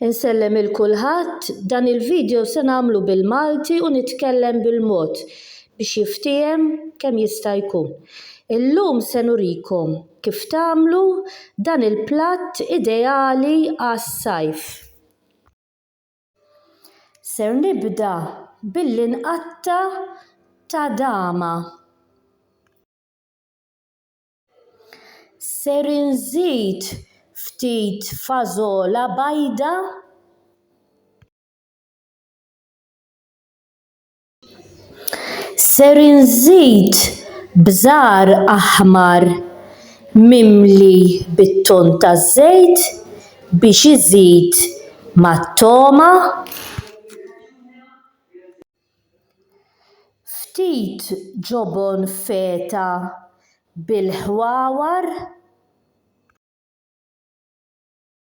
Insellem il kulħadd, dan il-video se nagħmlu bil-Malti u nitkellem bil-mod biex jiftiehem kemm jista' jkun. Illum se nurikom kif tagħmlu dan il-platt ideali għas-sajf. Ser nibda billi nqatta' tadama. Ser inżid ftit fażola bajda. Ser inżid bżar aħmar mimli bit-ton taż-żejt biex iżid mat-togħma. Ftit ġobon feta bil-ħwawar.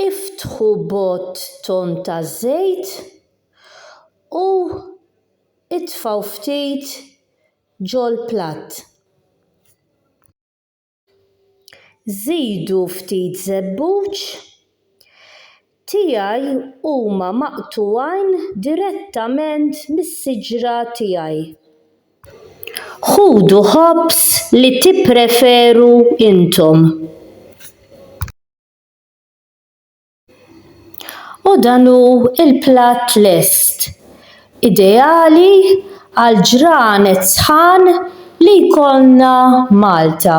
Iftħu bott ton ta' żejt u itfgħu ftit ġol-platt. Żidu ftit żebbuġ, tiegħi huma maqtugħin direttament mis-siġra tiegħi. Ħudu ħobż li tippreferu intom. U dan hu l-platt lest, ideali għal ġranet sħan li jkollna Malta.